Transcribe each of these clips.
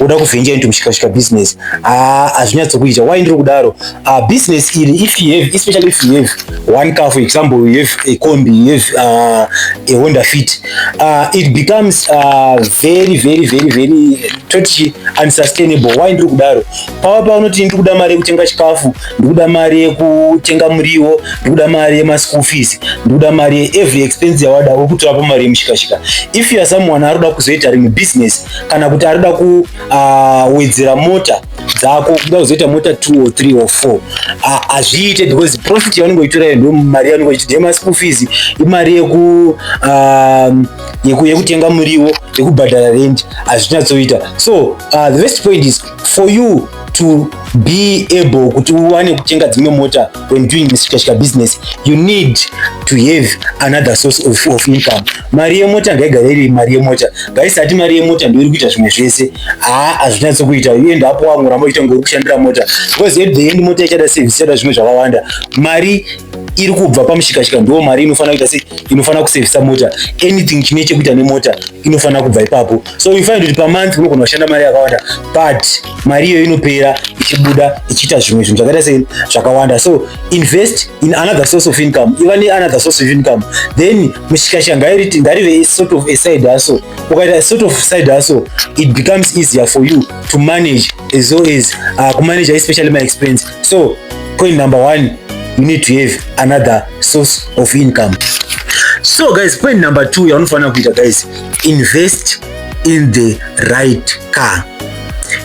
woda kuvhenja into mushikashika business ah, hazvinyatsokuita why ndiri kudaro ah, business iri if you have especially if you have one car for example you have a combi you have uh, a honda fit uh, it becomes uh, very very very very toti unsustainable why ndiri kudaro pava paunoti ndiri kuda mari yekutenga chikafu ndiri kuda mari yekutenga muriwo ndiri kuda mari yemaschool fees ndiri kuda mari yeevery expense yawada uri kutovapo mari yemushikashika if you are someone ari kuda kuzoita rimwe business kana kuti arikuda kuwedzera ah, mota dzako kuda kuzoita mota two or three or four ah, hazviite because profit yaunenge uchitora ndo mari yaunenge uchiti dema school fees imari yeku ah, yekutenga muriwo yekubhadhara rent hazvinyatsoita so the best point is for you to be able kuti uwane kutenga dzimwe mota when doing misikashika business you need to have another source of, of income mari yemota ngaigare iri mari yemota ngaisati mari yemota ndoiri kuita zvimwe zvese haa hazvinatsi kuita uenda apo wamwe ramba uchiita ngouri kushandira mota because at the end mota ichada service ichada zvimwe zvakawanda mari iri kubva pamushikashika ndo mari inofanira kuita se inofanira kusevisa mota anything chine chekuita nemota inofanira kubva ipapo so you find kuti pamonth unogona kushanda mari yakawanda but mari iyo inopera ichibuda ichiita zvimwe zvinhu zvakaita sei zvakawanda so invest in another source of income iva neanother source of income then mushikashika ngarive sort of a side hustle ukaita sort of side hustle it becomes easier for you to manage as well as uh, kumanage especially my expense so point number one you need to have another source of income so guys point number two yaunofanira kuita guys invest in the right car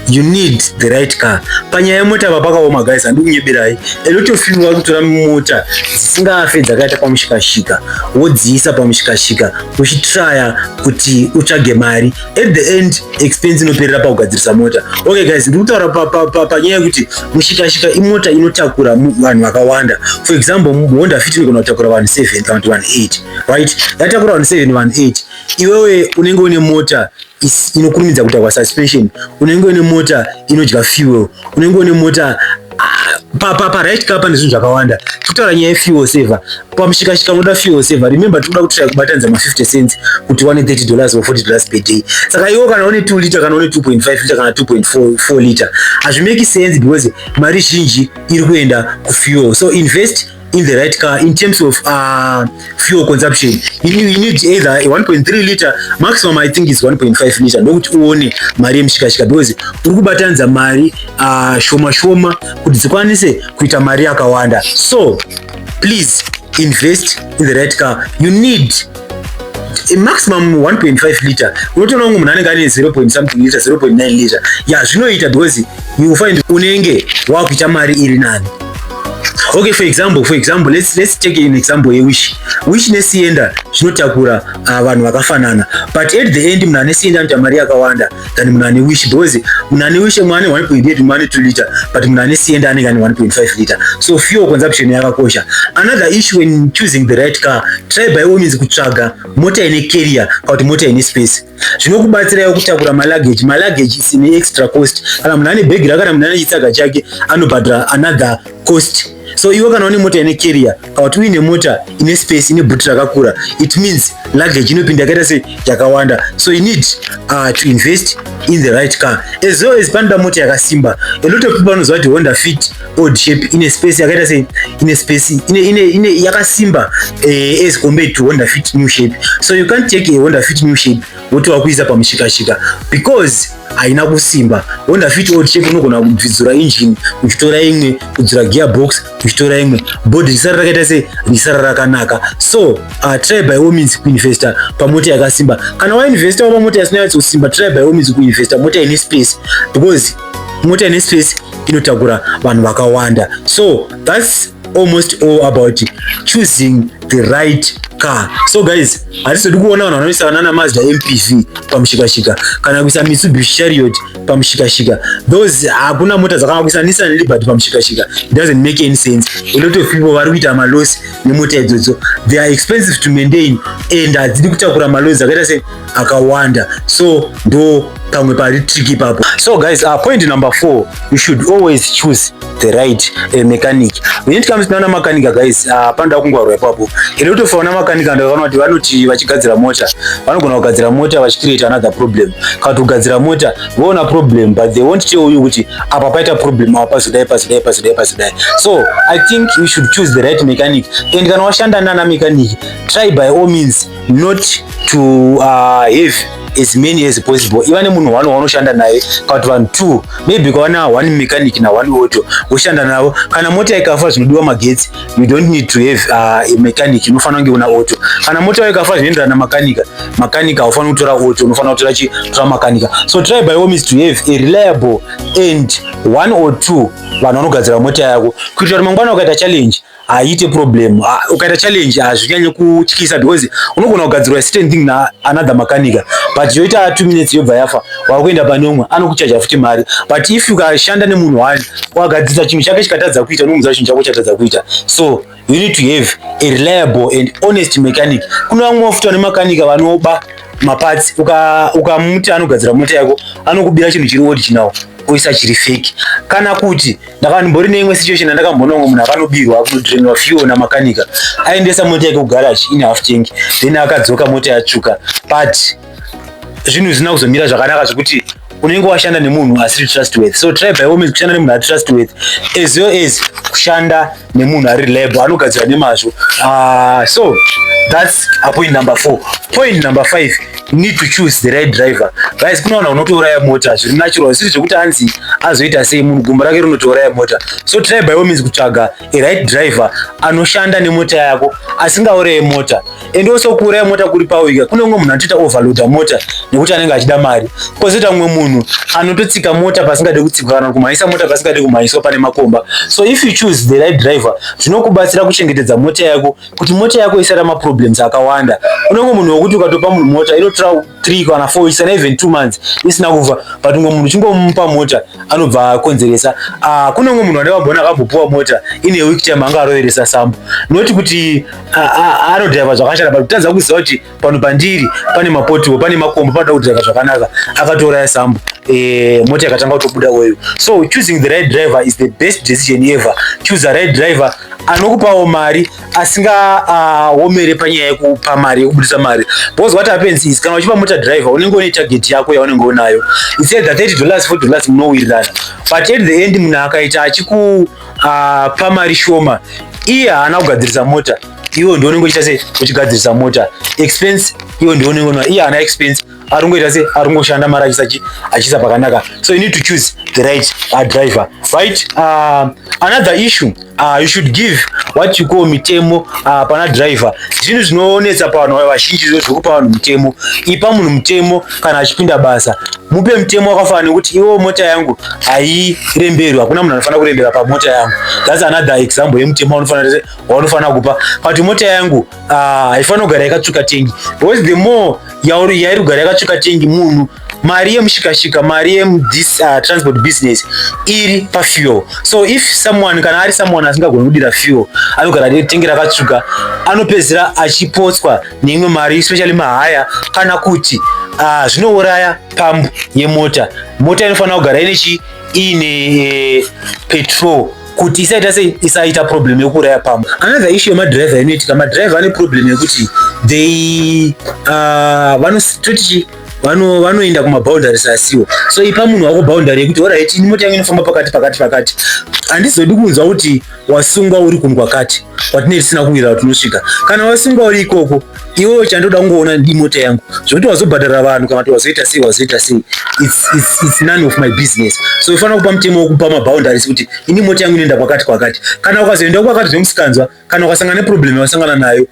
you need the right car panyaya yemota vapakaoma guys handikunyeberai a lot of people vari kutora mota dzisingafe dzakaita pamushikashika wodziisa pamushikashika uchitraya kuti utsvage mari at the end expense inoperera pakugadzirisa mota okay guys ndiri kutaura panyaya yekuti mushikashika imota inotakura vanhu vakawanda for example honda fit inogona kutakura vanhu 7 kana kuti vanhu 8 right yatakura vanhu 7 vanhu 8 iwewe unenge une mota inokurumidza kuita kwasuspension unenge une mota inodya fuel unenge une mota paparaight ka pane zvinhu zvakawanda tokutaura nyaya yefuel saver pamushikashika unoda fuel saver remember tikuda kutoa kubatanidza ma50 cents kuti wane 30 dollars or 40 dollars per day saka iwo kana une 2 liter kana une 2.5 liter kana 2.4 liter hazvimeki sense because mari zhinji iri kuenda kufuel so invest in the right car in terms of uh, fuel consumption you, you need either 1.3 liter maximum i think is 1.5 liter ndokuti uone mari yemushikashika because uri kubatanidza mari uh, shoma shoma kuti dzikwanise kuita mari yakawanda so please invest in the right car you need maximum 1.5 liter unotoona kunge munhu anenge ane 0 something liter 0.9 liter ya zvinoita because you find unenge wakuita mari iri nani okay for example for example let's, let's take an example yewish wish nesienda zvinotakura uh, vanhu vakafanana but at the end munhu anesienda anoita mari yakawanda than munhu ane wish because munhu ane wish mwana 1.8 mwana 2 liter but munhu ane siende anenge ane 1.5 liter so fuel consumption yakakosha another issue when choosing the right car try by all means kutsvaga mota ine carrier kana kuti mota ine space zvinokubatsirawo kutakura malaggage malaggage is an extra cost kana munhu ane bhegi rakana munhu ane chitsaga chake anobhadhara another cost so iwe kana une mota ine carrier Kana kuti uine mota ine space ine boot rakakura it means luggage inopinda yakaita sei yakawanda so you need uh, to invest in the right car as well as panoda mota yakasimba a lot of people vanoziva kuti honda fit old shape ine space yakaita sei ine space ine, ine, ine yakasimba eh, as compared to honda fit new shape so you can't take a honda fit new shape woti wakuisa pamushikashika because haina kusimba honda fit old shape unogona kubvidzura engine uchitora imwe kudzura gearbox tichitora imwe body risara rakaita sei risara rakanaka so uh, try by all means kuinvesta pamota yakasimba kana wainvesta wa pamota yasina yatsosimba try by all means kuinvesta mota ine space because mota ine space inotakura vanhu vakawanda so thats almost all about choosing the right car so guys hatizodi kuona vanhu vanoisa vanana mazda mpv pamushikashika kana kuisa mitsubishi chariot pamushikashika those hakuna mota dzakavakisa nissan liberty pamushikashika it doesn't make any sense a lot of people vari kuita malosi nemota idzodzo they are expensive to maintain and hadzidi kutakura malosi akaita se akawanda so ndo pamwe pari trick ipapo so guys uh, point number four you should always choose the right uh, mechanic when it comes naana mechanic guys ah, hapana uh, kungwarwa ipapo ende kutofa vana mechanic ndavana kuti vanoti vachigadzira mota vanogona kugadzira mota vachicreate another problem kana kuti kugadzira mota voona problem but they won't tell you kuti apa paita problem apa pazodai pazodai pazodai pazodai so i think we should choose the right mechanic and kana washanda naana mechanic try by all means not to uh, have as many as possible iva nemunhu one waunoshanda naye kana kuti vanhu two maybe kwawana one mechanic na one auto woshanda navo kana mota ikafa zvinodiwa magetsi you don't need to have uh, a mechanic unofanira kunge una auto kana mota yawo ikafa zvinoenderana makanika makanika haufaniri kutora auto unofanira kutora chi tora makanika so try by all means to have a reliable and one or two vanhu vanogadzira mota yako kuitira kuti mangwana ukaita challenge haite problem ah, ukaita challenge hazvinyanye ah, kutyisa because unogona kugadzirwa certain thing na another makanika but yoita two minutes yobva yafa wakuenda pane umwe anokuchaja futi mari but if ukashanda nemunhu one wagadzirisa chinhu chake chikatadza kuita unomuza chinhu chako chatadza kuita so you need to have a reliable and honest mechanic kune vamwe vafuti vane makanika vanoba maparts ukamuti uka anogadzira mota yako anokubira chinhu chiri original oisa chiri fake kana kuti ndakambotori neimwe situation yandakamboona umwe munhu akanobirwa akunodrainwa fuel namakanika aendesa mota yake kugarage in half tank then akadzoka mota yatsvuka but zvinhu zvisina kuzomira zvakanaka zvekuti unenge washanda nemunhu asiri trustworthy so try by all means kushanda nemunhu atrustworthy as well as kushanda nemunhu ari reliable anogadzira nemazvo uh, so that's a point number four point number five need to choose the right driver guys kunowana unotouraya mota zviri natural zvisiri zvekuti anzi azoita sei munhu gumbo rake rinotouraya mota so try by all means kutsvaga a right driver anoshanda nemota yako asingauraye mota and also kuuraya mota kuri pawika kune umwe munhu anotoita overloada mota nekuti anenge achida mari kozoita mumwe munhu anototsika mota pasingade kutsikwa kana kumhanyisa mota pasingade kumhanyiswa pane makomba so if you choose the right driver zvinokubatsira kuchengetedza mota yako kuti mota yako isara maproblems akawanda kune umwe munhu wekuti ukatopa munhu mota inotora three kana four isana even two months isina kuva but umwe munhu chingomupa mota anobva akonzeresa ah, kune umwe munhu ane vambona akambopuwa mota ine week time anga aroveresa sambo noti kuti anodhaiva zvakashata but kutadza kuziva kuti pano pandiri pane mapotiwo pane makombo panoda kudhaiva zvakanaka akatouraya sambo eh, mota yakatanga kutobuda weyo so choosing the right driver is the best decision ever choose a right driver anokupawo mari asingaomere ah, panyaya yekupa mari yekubudisa mari because what happens is kana uchipa mota driver unenge une target yako yaunenge unayo instead the 30 dollars 4 dollars munowirirana but at the end munhu akaita achiku uh, pamari shoma iye haana kugadzirisa mota iwe ndiwe unenge uchiita se uchigadzirisa mota expense iwe ndiwe unenge unwa iye haana expense ari kungoita se ari kungoshanda mari achisachi achiisa pakanaka so you need to choose the right uh, driver right uh, another issue uh, you should give what you call mitemo uh, pana driver zvinhu zvinoonetsa pavanhu vazhinji zvekupa vanhu mitemo ipa munhu mutemo kana achipinda basa mupe mutemo wakafanana nekuti iwo mota yangu hairemberwi hakuna munhu anofanira kurembera pamota yangu thats another example yemutemo waunofanira kupa but mota yangu ah, haifanira kugara yakatsvuka tengi because the more yairi kugara yakatsvuka tengi munhu mari yemushikashika mari yemthis uh, transport business iri pafuel so if someone kana ari someone asingagoni kudira fuel anogara tengi rakatsvuka anopedzisira achipotswa neimwe mari especially mahaya kana kuti uh, zvinouraya pambu yemota mota inofanira kugara ine chi ine eh, petrol kuti isaita sei isaita problem yekuuraya pamwe another issue yemadriver inoitika madriver ane problem yekuti they uh, vanototi vano vanoenda kumaboundaries asiwo so ipa munhu wako boundary yekuti orit ini mota yangu inofamba pakati pakati pakati handizodi kunzwa kuti wasungwa uri kundwa kati kwatinee tisina kuwira tinosvika kana wasungwa uri ikoko iwewo chandoda kungoona ndimota yangu zvokuti wazobhadhara vanhu kana kuti wazoita sei wazoita sei its none of my business so ufanira kupa mutemo wokupa maboundaries kuti ini mota yangu inoenda kwakati kwakati kana ukazoenda kwakati zvemusikanzwa kana ukasangana neproblem yawasangana nayo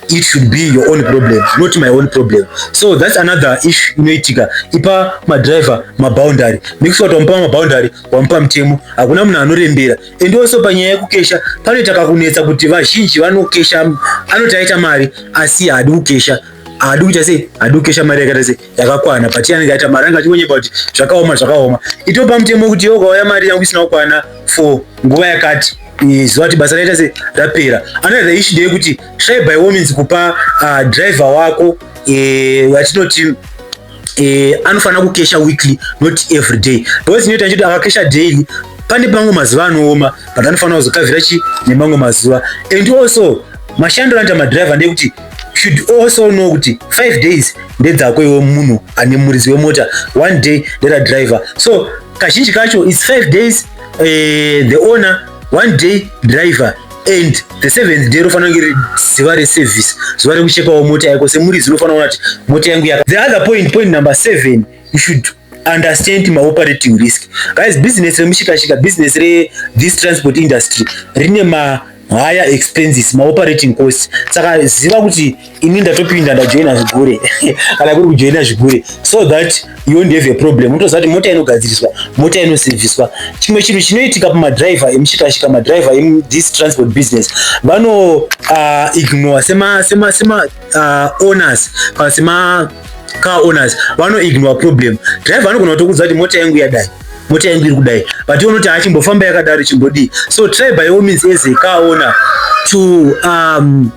it should be your own problem not my own problem so that's another issue inoitika ipa madriver maboundary next wati wamupa maboundary wamupa mutemo hakuna munhu anorembera and also panyaya yekukesha panoita kakunetsa kuti vazhinji vanokesha anoti aita mari asi haadi kukesha haadi kuita sei haadi kukesha mari yakaita sei yakakwana but anenge aita mari anga achingonyepa kuti zvakaoma zvakaoma itopa mutemo wekuti iwe ukauya mari yangu isina kukwana for nguva yakati zuva kuti basa raita se rapera another issue ndeye kuti try by all means kupa uh, driver wako eh, vatinoti uh, eh, anofanira kukesha weekly not every day because inoita nchoti akakesha daily pane pamwe mazuva anooma but anofanira kuzokavhira chi nemamwe mazuva and also mashandiro anoita madriver ndekuti should also know kuti five days ndedzako iwe munhu ane muridzi wemota one day nderadriver so kazhinji kacho its five days uh, the owner one day driver and the seventh day rofanira kunge ri ziva reservice zuva rekuchekawo mota yako semuridzi unofanira kuona kuti mota yangu yaka the other point point number seven you should understand ma operating risk guys business remushikashika business re this transport industry rine ma higher expenses ma operating cost saka ziva kuti ini ndatopinda ndajoina zvigure kana kuri kujoina zvigure so that you won't have a problem unotoziva kuti mota inogadziriswa mota inosevhiswa chimwe chinhu chinoitika pamadriver emushikashika madriver emu this transport business vano uh, ignore sema sema sema uh, owners kana sema car owners vano ignore problem driver anogona kutokuudza kuti mota yangu yadai mota yangu iri kudai but unoti achimbofamba yakadaro chimbodii so try by all means as a car owner to um,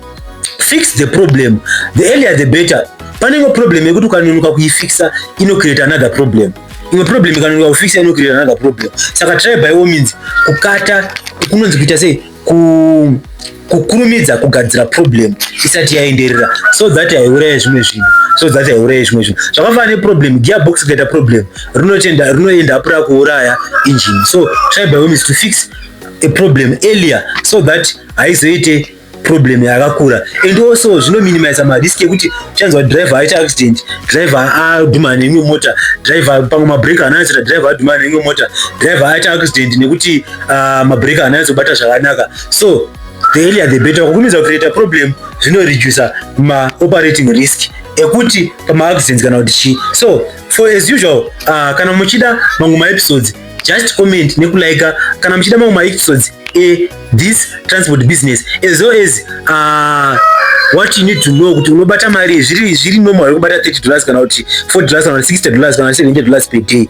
fix the problem the earlier the better pane imwe problem yekuti ukanonoka kuifixa inocreate another problem imwe problem ikanonoka kufixa inocreate another problem saka try by all means kukata kunonzi kuita sei ku kukurumidza kugadzira problem isati yaenderera so that haiuraye zvimwe zvinhu so that haiuraye zvimwe zvinhu zvakafanana neproblem gearbox ikaita problem rinotenda rinoenda apura kuuraya engine so try by all means to fix a problem earlier so that haizoite problem yakakura and also zvinominimiza madisk ekuti uchanzwa driver aita accident driver adhumana neimwe mota driver pamwe mabreak anasira driver adhumana neimwe mota driver aita accident nekuti uh, mabreak haana nyatsobata zvakanaka so the earlier the better kukurumidza kucreata problem zvinoreducer maoperating risk ekuti pamaaccidents kana kuti chii so for as usual uh, kana muchida mamwe maepisodes just comment nekulaika kana muchida mamwe maepisodes e this transport business as well as uh, what you need to know kuti unobata mari zviri zviri normal yekubata 30 dollars kana kuti 4 dollars kana 60 dollars kana 70 dollars per day